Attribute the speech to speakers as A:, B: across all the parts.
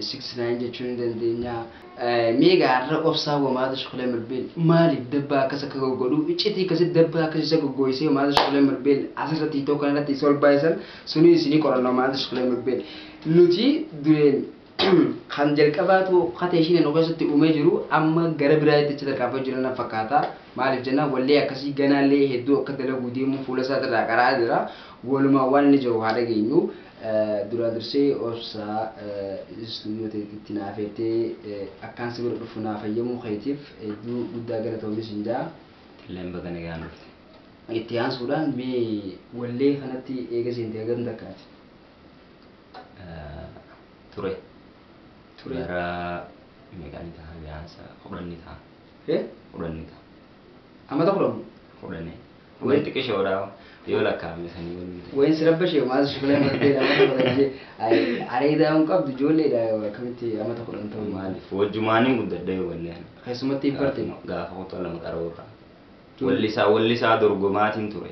A: six nine jechuun ni dandeenya. Mee egaa har'a obsaa wa maata shukulee mirbeel maaliif dabbaa akkas akka goggodhu iccitii akkasitti dabbaa akkas isa goggooysee wa maata shukulee mirbeel asirratti itoo kanarratti isa ol baay'isan sunii isinii qorannoo maata shukulee mirbeel nuti dureen kan jalqabaatu kata ishiin nu keessatti uumee jiru amma gara biraa itti tarkaanfaa jiran na fakkaata maaliif jennaan wallee akkasii ganaallee hedduu akka dalaguu deemu fuula isaatirraa qaraa jira walumaa waan inni jiru haa dhageenyu Duraa dursee obsaa studio teeti itti na afeertee akkaan si bira dhufu naaf hayyamuu keetiif hedduu guddaa galatoomi sin ja'a. Atilleen baga nagaan
B: dhufte. Itti aansuudhaan
A: mee wallee kanatti eega seente hagam takkaati?
B: Ture. Ture. Bara meeqa ni taha gaansa kudhan ni taha. He? Kudhan ni taha. Amata kudhan?
A: Kudhani. Wani
B: xiqishoodha yoo lakkaa'ame sanii wani miti. Wayin si rabbashe maal
A: si filan bartee nama barajee areedaa hin qabdu ijoolleedha akkamitti amata kudhan ta'u Maaliif wajjumaaniin
B: guddadhee wallee ana. keessumatti hin bartee.
A: Gaafuma- Gaafa kutaa lama
B: qaruurraa. Juu- Wallisaa wallisaa dorgomaatiin ture.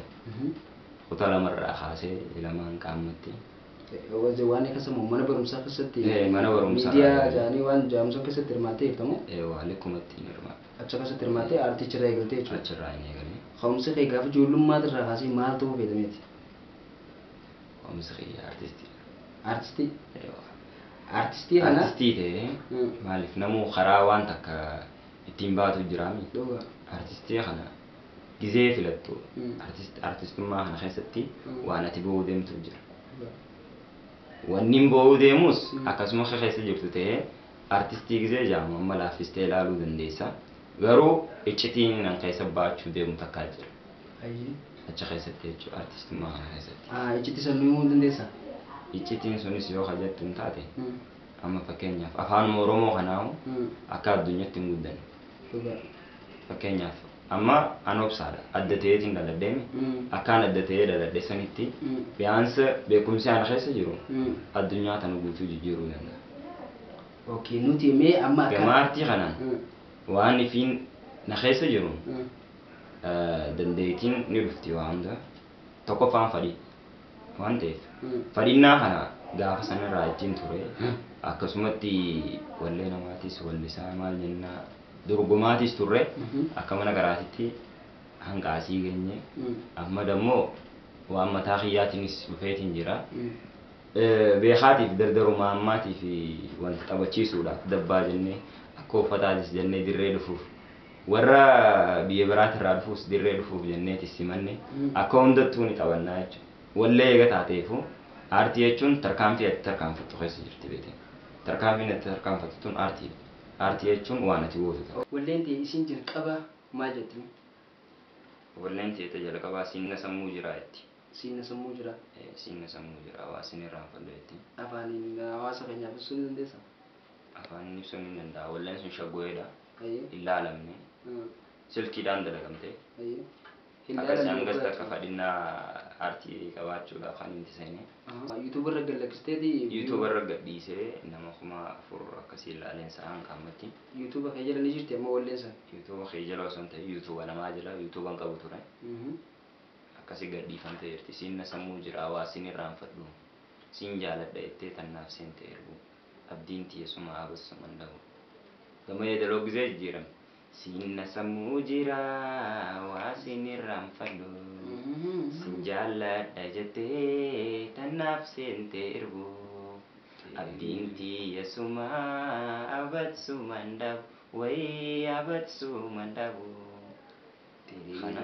B: Kutaa lamarraa kaasee ilamaan qaammatti. Wanti
A: waan akka sammuu mana barumsaa keessatti Eh, mana barumsaa. miidiyaa
B: jaanii waan
A: jaamsoo keessatti hirmaattee jirtamoo Eewaa likkumatti hin
B: hirmaatu. Achi keessatti hirmaattee
A: aartii achirraa eegalte jechuudha. Achirraa hin eegalee.
B: Ka'umsi kee gaafa
A: ijoollummaati irraa kaasee maal ta'uu feeta meeti?
B: Ka'umsi kiyya aartistiidha. Aartistii?
A: Yoo. Aartistii kana? Aartistii ta'ee Hmm.
B: maaliif namuu karaa waan takka ittiin baatu jiraami. Dhugaa. Aartistii
A: kana
B: gizee filattu Hmm. aartist- aartistummaa kana keessatti Hmm. waan ati ba'uu deemtu jira. Dhugaa. Wanni ba'uu deemus Hmm. akkasuma keessa jirtu ta'ee Artistii Gizee jedhamu amma laaffistee ilaaluu dandeessa. Garuu iccitiin an keessa ba'achuu deemu takkaa jira. Hayyee.
A: Achi keessatti
B: jechuudha artistummaa kana keessatti. Ah, iccitii san nu himuu ni
A: dandeessaa? Iccitiin
B: sunis yoo ka jettuun taate Hmm. amma fakkeenyaaf afaanuma Oromoo kanaahu Hmm. akka addunyaatti hin guddanne. Dhugaa.
A: Fakkeenyaaf
B: Amma an obsaadha. Adda ta'eetiin dhaladheem. Akkaan adda ta'ee dhaladhe sanitti biyaansa beekumsi ana keessa jiru addunyaa tana guutuu jijjiiruu danda'a. Ok
A: nuti mee amma akka. Gama aartii kanaan
B: waan ifiin na keessa jiruun dandeetiin ni dhufti waa hunda. Tokkoffaan fadhii waan ta'eef fadhinnaa kana gaafa sanirraa ittiin ture akkasumatti wallee namaatiis wallisaa maal jennaa. Dorgomaatis turre akka mana garaatitti hanga asii geenye. Amma dammoo waan mataa kiyyaatiinis dhufeetiin jira. Beekaatiif dardaruma ammaatiif wal taphachiisuudhaaf dabbaa jennee akka uffataatis jennee dirree dhufuuf warra biyya biraatirraa dhufuus dirree dhufuuf jenneetis simanne akka hundattuu ni taphannaa jechuudha. Wallee eega taateefuu aartii jechuun tarkaanfii ati tarkaanfattu keessa jirti beeteen. Tarkaanfiin ati tarkaanfattu tun aartiidha. Aartii jechuun waan ati gootu ta'a. Walleen tee isiin
A: jalqabaa maal jetti mee?
B: Walleen tee ta jalqabaa siin na sammuu jiraa jetti. Siin na sammuu jiraa.
A: Ee siin na sammuu
B: jiraa waa sin irraanfadhu jetti. Afaaniin hawaasa
A: keenyaaf ibsuu ni dandeessaa? Afaaniin
B: ibsuun hin danda'a. Walleen sun shaggooyedha. Hayyee. Hin laalamne. Silkiidhaan dalagamte. Hayyee.
A: Akka isaan
B: gasta akka fadhinnaa aartii qabaachuudhaaf kan itti seene. YouTube irra gad
A: lakkisteeti? YouTube irra gad
B: dhiisee nama kuma afur akkasii ilaaleen sa'a hanga ammatti. YouTube kee jala ni
A: jirti amma walleen san? YouTube kee jala osoo hin
B: ta'in YouTube namaa jala YouTube hin qabu ture. Akkasi gad dhiifamtee jirti. Siin na sammuu jira waa siin irraanfadhu. Siin jaaladha jettee tan naaf seente erguu. Abdiin tiyya suma haa bassu man dhabu. Gama yeedaloo gizee jijjiirame. Siin na sammuu jira waa sin irraanfadhu Sin jaalladha jettee tan naaf seente irbuu Abdiin tiyya suma abad suman dhabu Way abad suman dhabu Kana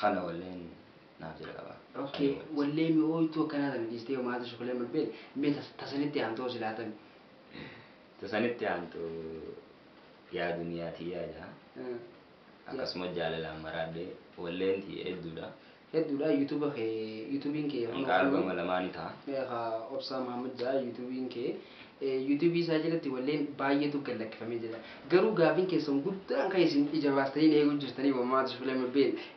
B: kana walleen naaf jalqaba Ok Kani wal. wallee
A: mi'ooytuu akkanaa tana dhiistee hoo maaltu si kulee malbeel mee ta ta sanitti aantu hoo silaa tami. Ta
B: sanitti aantu. Yaa duniyaa tiyyaa jaa akkasuma jaalalaan maraadhee walleen tiyya hedduudha. Hedduudha
A: yuutuuba kee yuutuubiin kee kan Hanqaa hordofnu albama lamaa ni
B: ta'a. eh, ka obsaa Mahammad
A: jaa yuutuubiin kee eh, yuutuubii isaa jalatti walleen baay'eetu gad lakkifamee jira garuu gaafiin keessan guddaan kan isin ija baastanii na eeguu jirtanii wammaatu filame been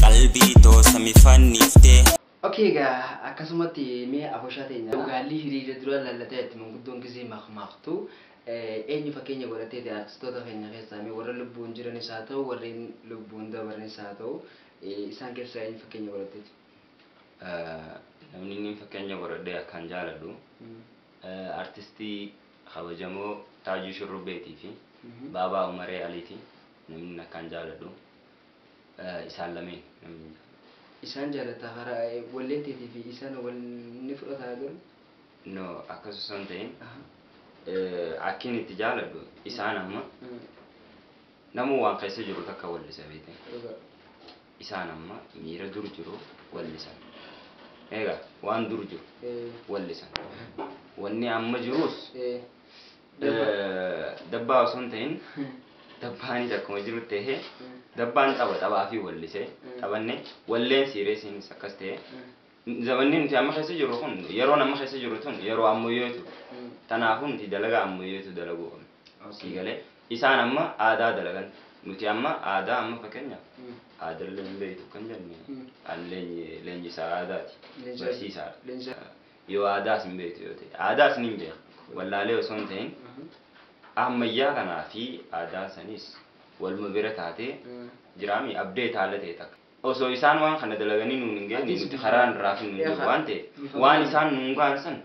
C: Qalbii too sami fanniftee. Ok egaa
A: akkasumatti mee aboshaa teenya. Gaallii hiriira dura lallatee atti manguddoon gisee makmaaktu eenyu fakkeenya godhatteeti artistoota keenya keessaa mee warra lubbuun jiranis haa ta'u warreen lubbuun dabarnis haa ta'u isaan keessaa eenyu fakkeenya godhatteeti? Namni
B: inni fakkeenya godhadhee akkaan jaaladhu artistii kabajamoo Taajuu Shurrubbeetii fi Baabaa Umaree Aliiti namni inni akkaan jaaladhu. isaan lameen namni hin jaalatu. Isaan jaalatta
A: karaa walleen teetii fi isaan wal ni fudhata garuu. No
B: akkas osoo hin ta'in akkin itti jaaladhu isaan amma namuu waan keessa jiru takka wallisa beekte. Isaan amma miira dur jiru wallisan. Egaa waan dur jiru wallisan. Wanni amma jirus Dabbaa osoo hin ta'in dabbaanis akkuma jiru ta'e dabbaan xaba xabaa fi wallise xabanne walleen siireesiinis akkas ta'e zabanni nuti amma keessa jirru kun yeroon amma keessa jirru tun yeroo ammayyeetu tanaafuu nuti dalagaa ammayyeetu dalaguu qabna sii galee isaan amma aadaa dalagan nuti amma aadaa amma fakkeenyaaf aadaa leenjii beektu kan jenne leenjisaa aadaati barsiisaadha. Yoo aadaas hin beektu yoo ta'e. Aadaas niin beeka. Wallaalee osoo hin ta'in ammayyaa kanaa fi aadaan saniis waluma bira taatee jiraami abdee taala ta'e takka. Osoo isaan waan kana dalaganii nuun hin geenye nuti karaan irraa hafin hin jiru waan ta'eef waan isaan nuun ga'an san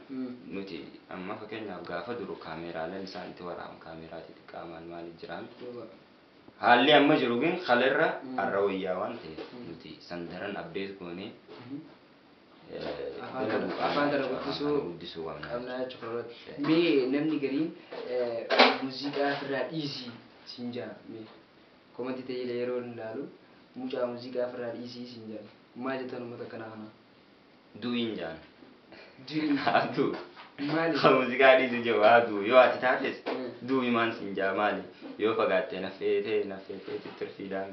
B: nuti amma fakkeenyaaf gaafa duru kaameeraaleen isaan itti waraaban kaameeraa xixiqqaa maal maali jiraami. Haalli amma jiru gin kala irra arra wayyaa waan ta'eef nuti san daran abdeet goonee
A: afaan kana guddisuu qabnaa jechuudha irratti. Mee namni gariin muuziqaa ofirraa dhiisii siin jaa mee komantii ta'eera yeroo hin ilaalu mucaa muuziqaa ofirraa dhiisii siin jaa maal jettan uummata akkanaa kana? Du'iin
B: jaan. Du'iin.
A: Haa du'u.
B: Maali? Haa
A: muuziqaa dhiisu
B: jiru haa du'u yoo ati taates du'u imaan siin jaa maali yoo fagaattee naffeetee naffeetee tittirfiidhaan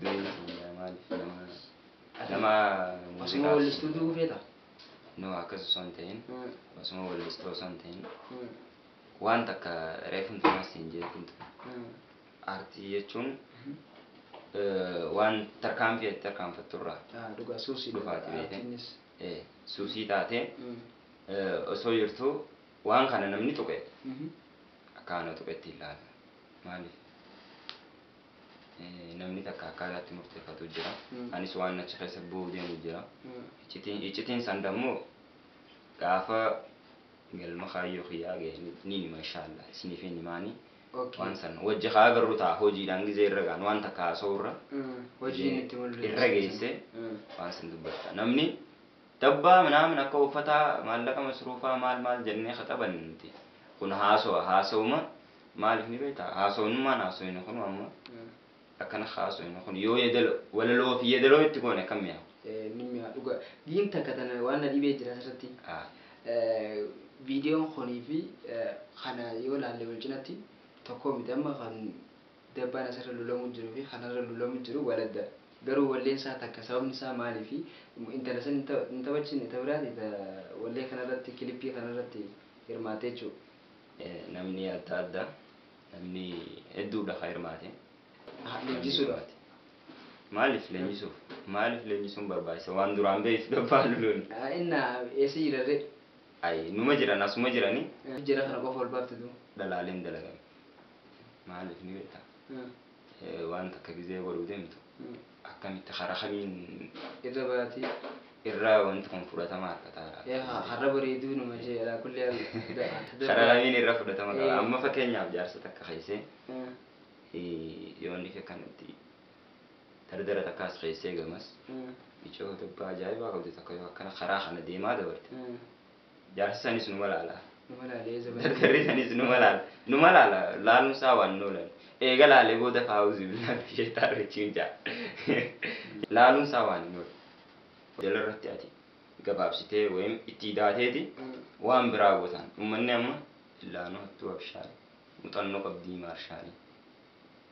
B: du'iin siin jaa maaliif namaa. Nama Osuma muuziqaa
A: wallistuu du'uu feeta? No akkas
B: osoo hin ta'in Mm. osuma wallistuu osoo hin ta'in Mm. waan takka reefun tumas hin jeetiin ture. Mm. Aartii jechuun eh, waan tarkaanfii ati tarkaanfatturraa Ah, Dhugaa suusii
A: dhufaati beekte. Artiinis.
B: Eh, Suusii taatee Mm. eh, osoo jirtuu waan kana namni tuqe Mhm. akka ana tuqetti hin laala. Maaliif? Namni takka akkaataatti murteeffatu jira. Anis waan achi keessa bu'uu deemu jira. Iccitiin iccitiin san dammoo gaafa galma kaayyoo kiyyaa ga'e ni- niin hima inshaallah isiniif hin himaani. Okay. Waan san wajji haa agarru ta'a hojiidhaan gizee irra gaanu waan takka haasa'u irra Mm. Hojiin itti
A: mul'isa. irra geessee
B: Mm. waan san dubbadha. Namni Dabbaa minaamin akka uffataa maallaqa masruufaa maal maal jennee khaxabanne nuti kun haasowa haasowuma maalif ni beektaa haasowunummaan haasoyne kunu amma akkana haasoyne kun yoo yedalo walaloo fi yedaloo itti goone akkam mi'aawa. Ee ni mi'aa dhuga
A: giin takka tana waan na dhibee jira asirratti Haa. viidiyoon kunii fi kana yoo laalle wal cinatti tokkoo miti amma kan Dabbaan asirra lulamu jiru fi kanarra lulamu jiru wal adda. Garuu walleen isaa takka sababni isaa maaliifi intala san hin taphachiifne ta biraati ta wallee kanarratti
B: kilippii
A: kanarratti hirmaatte
B: jechuu.
A: Namni
B: adda adda. Namni hedduudha ka hirmaate. Aha leenjisuudhaaf. Maaliif leenjisuuf? Maaliif leenjisuun barbaachisa waan duraan beektu dabbaa luluun. Inna
A: eessa jiran ree? Ayi numa
B: jiran asuma jirani. Jara kana qofa ol
A: baafte tuu. Dhalaaleen dalagame.
B: Maaliif ni beekta? Waan takka gizee godhuu deemtu akkamitti karaa kamiin irra baati
A: irraa wanti
B: kun fudhatama argata. yaa har'a bareeduu
A: nama ishee alaa kulli haal Karaa
B: kamiin irra fudhatama qaba. Eh. Amma fakkeenyaaf jaarsa takka keessee yoonni fi akkanatti dardara takkaas keessee gamas icoo dubbaa ajaa'ibaa qabdu takka yoo akkana karaa kana deemaa dabarte Jaarsi sanis numa laala. Numa laalee zabana. Daktarri sanis numa laala. Numa laala. Laaluun isaa waan hin oolan. Eega laalee booda faawuzi billaati sheexaan rajiim ja'a. Laaluun isaa waan hin oolan. Jala irratti ati gabaabsitee wayim itti idaateeti waan biraa gootaan. Ummanni amma illaanuu hattuu abshaari. Muxannoo qabdii maarshaalii.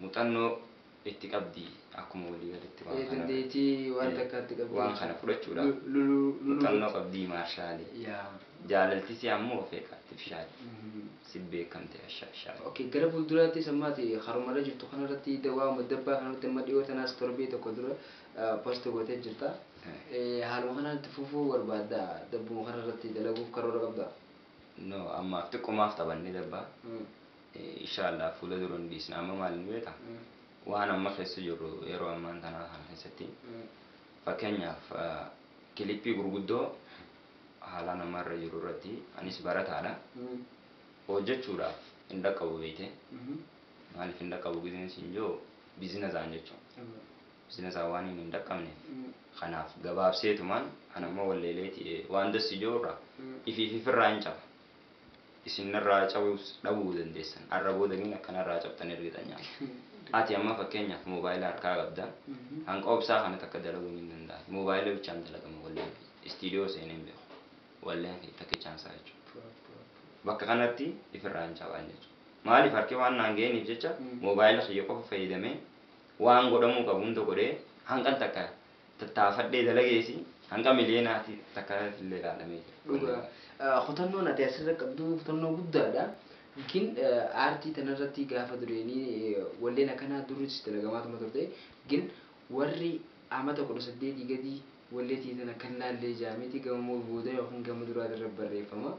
B: muxannoo itti qabdi akkuma walii galitti waan kana Dandeettii waan takkaa
A: itti qabdi waan kana fudhachuudhaaf
B: muxannoo qabdi maarshaali jaalaltisi ammoo ofeeka artifishaali sit beekamte ashaashaali. Ok gara fuulduraattis
A: amma ati karuma irra jirtu kana irratti waa'uma dabbaa kana irratti amma dhiyoo tanaas torbee tokko dura post gootee jirta haaluma kanaan itti fufuu barbaadda dabbuma kana irratti dalaguuf karoora qabda? No
B: ammaaf xiqqomaaf taphanne dabbaa Insha Allah fuula dura ni dhiisna amma maal ni beekta waan amma keessa jirru yeroo ammaan tanaa kana keessatti fakkeenyaaf kilippii gurguddoo haalaan amma irra jiru irratti anis barataadha hojjechuudhaaf hin dhaqqabu beeyte maaliif hin dhaqqabu gizeen siin jiru bizinasaan jechuudha bizinasaan waan hin dhaqqabneef kanaaf gabaabseetumaan an amma walleeleeti waan dassi jiru irraa ifiif ifirraa hin caba isin narraa cabuus dhabuu dandeessan arra booda miin akka narraa cabxan irgiixanyaa miti ati amma fakkeenyaaf moobaayila harkaa qabda hanqa obsaa kana takka dalaguu niin dandaahi moobaayila bichaan dalagama walleen kiyya istiidiyoo seenee hin beeku walleen kiyya takkichaan isaa jechuudha bakka kanatti ifirraa hin cabaan jechuudha maaliif harki waan naan ga'eeniif jecha moobaayila kiyya qofa fayyadamee waan godhamuu qabu hunda godhee hanqan takka tattaafadhee dalageesi hanga miliyeenaati takka irratti illee ilaalamee jira. Dhugaa. Eh, Kutannoon ati
A: asirra qabdu kutannoo guddaadha. Yookiin eh, aartii tanarratti gaafa dureenii eh, walleen akkanaa durris dalagamaatuma turte. Yookiin warri amata kudha saddeetii gadii walleetii tana kan laallee jaamiti gama moo booda yookiin gama duraa irra barreeffama.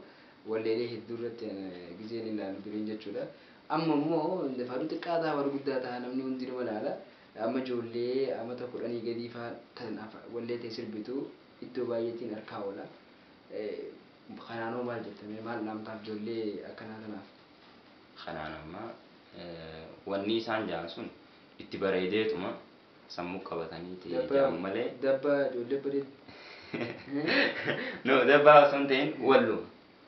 A: Walleelee hedduu irratti eh, gizeen ilaalu dureen jechuudha. Amma immoo dafaaduu xiqqaa ta'a warri guddaa ta'a namni hundi nima laala. Amma ijoollee amata kudhanii gadii faa tan wallee tee sirbitu iddoo baayyeetiin arkaa oola. Kanaan hoo maal jetta mee maal dhaamtaaf ijoollee akkanaa tanaaf? Kanaan
B: amma wannii isaan ja'an sun itti bareedeetuma sammuu qabataniiti Dabba ja'an malee dabba ijoollee
A: bareeddu.
B: No dabbaa osoo hin ta'in walluma.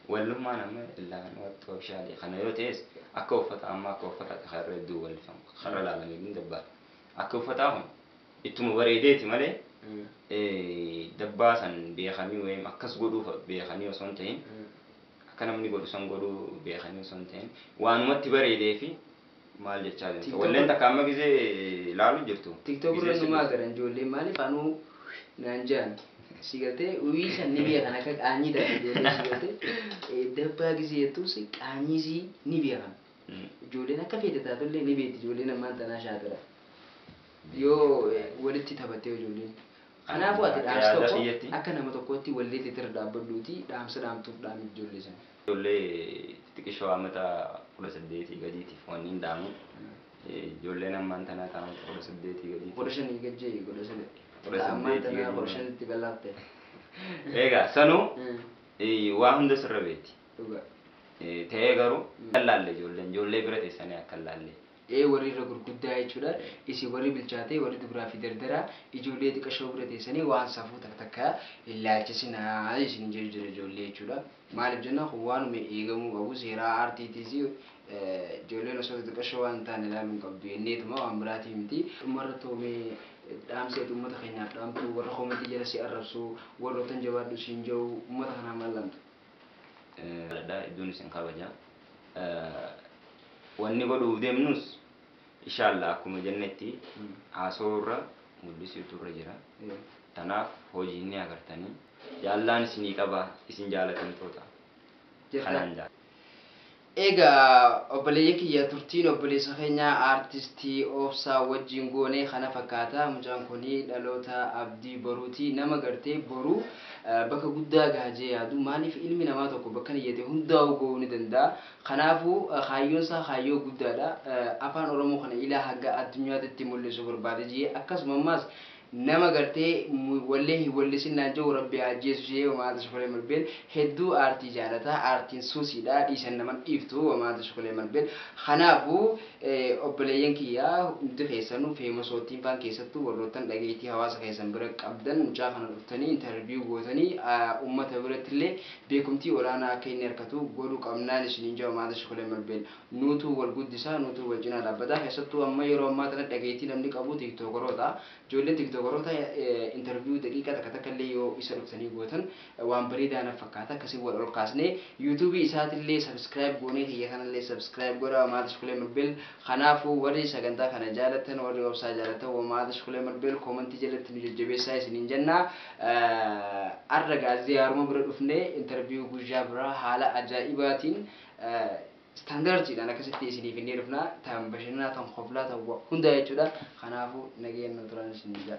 B: Wallummaan amma illaan wattu ofishaalii kana yoo ta'es akka uffata amma akka uffataati kan irra hedduu wallifamu kan irra ilaalame hedduun dabbaadha. Akki uffataa kun ittuma bareedeeti malee dabbaa san beekanii wayim akkas godhuu fa beekanii osoo hin ta'in akka namni godhu san godhuu beekanii osoo hin ta'in waanuma itti bareedeefi maal jechaa jirta TikTok walleen takka amma gizee laalu jirtu TikTok gizee irra numaa sirriitti
A: garan ijoolleen maaliif anuu naan jaan si galtee uyii san ni beekan akka qaanyii taate ijoolleen si galtee Eh, dabbaa gisee jettuus qaanyii sii ni beekan Mm. ijoolleen akka feete taatullee ni beekti ijoolleen ammaan tanaa shaatira yoo eh, walitti taphattee ijoolleen kanaafuu ati Akka dhaamsa yaada tokko kiyyatti. akka nama tokkootti walleetti irra dhaabbadhuuti dhaamsa dhaamtuuf dhaamif ijoollee sana Ijoollee
B: xixiqishoo ammata 18 gadiitiif wanniin dhaamu, ijoolleen ammaan tanaa ta ammata 18 gadiitiif. 15 gad je'i 15.
A: Ta ammaan tanaa 15tti gad laafte. Eegaa
B: sanuu waa hunda sirra beeti. Dhugaa.
A: Ta'ee
B: garuu akka hin laalle ijoolleen, ijoollee bira teessanii akka hin laalle. ee warri irra
A: gurguddaa jechuudha isin warri bilchaatee warri dubraa fi dardaraa ijoollee xiqashoo bira teessanii waan safuu tak takka hin laalchisinaa isin jedhu jira ijoollee jechuudha maaliif jenna kun waanuma eegamuu qabu seeraa aartiitiis ijoolleen osoo xixiqashoo waan hin taane ilaaluu hin qabdu jenneetuma waan biraatii miti dhumarra toomee dhaamsa ati uummata keenyaaf dhaamtu warra koomentii jala si arrabsu warrootan jabaadhu siin jedhu uummata kanaa maal dhaamta? Jaaladha
B: hedduun isin kabaja. Wanni godhuuf deemnus ishaallah akkuma jennetti haasawuu irra mul'isuutu irra jira. Tanaaf hojiin ni agartanii. Jaallaan isinii qaba isin jaalatamtoota. Kanaan jaala. Egaa
A: obboleeyyan kiyya turtiin obboleessa keenya Artist Obsaa wajjiin goone kana fakkaata. Mucaan kun dhaloota abdii boruuti. Nama gartee boru bakka guddaa gaha jee yaadu. Maaliif ilmi namaa tokko bakkan iyyate hundaa'uu gahuu ni danda'a. Kanaafuu kaayyoon isaa kaayyoo guddaadha. Afaan Oromoo kana ilaa hanga addunyaatitti mul'isuu barbaada jee akkasuma ammaas Nama gartee wallee hin wallisin naan ja'u rabbi haa ajjeesu ishee wamaa tashkulee malbeel hedduu aartii jaalata aartiin suusiidha dhiisan naman dhiiftu wamaa tashkulee malbeel kanaafu obboleeyyan kiyya hundi keessanu feemasootiin faan keessattu warroottan dhageeytii hawaasa keessan bira qabdan mucaa kana dhuftanii interview gootanii ummata birattillee beekumtii olaanaa akka inni arkatu godhu qabnaan isiniin ja'a wamaa tashkulee malbeel Nuutu wal guddisa, nuutu wal cinaa dhaabbata. Keessattuu amma yeroo ammaa tana dhageettii namni qabu tiktookaroota. Ijoollee tiktookaroota interview daqiiqaa takka takka illee yoo isa dhuftanii gootan waan bareedaa naf fakkaata. Akkasiin wal ol kaasnee youtube isaatillee subscribe goonee kiyya kanallee subscribe godhaa Maatish Kuleemal Beel. Kanaafuu warri sagantaa kana jaalattan, warri obsaa jaalattan wa Maatish Kuleemal Beel koomantii jalatti nu jajjabeessaa isiniin jenna. Har'a gaa ziyaaruma bira dhufnee interview guyyaa biraa haala ajaa'ibaatiin Standartiidhaan akkasitti isiniif inni dhufna. Tan bashannanaa, tan koflaa, tan wa hundaa jechuudha. Kanaafuu nagayaan nu turaan isiniin jedha.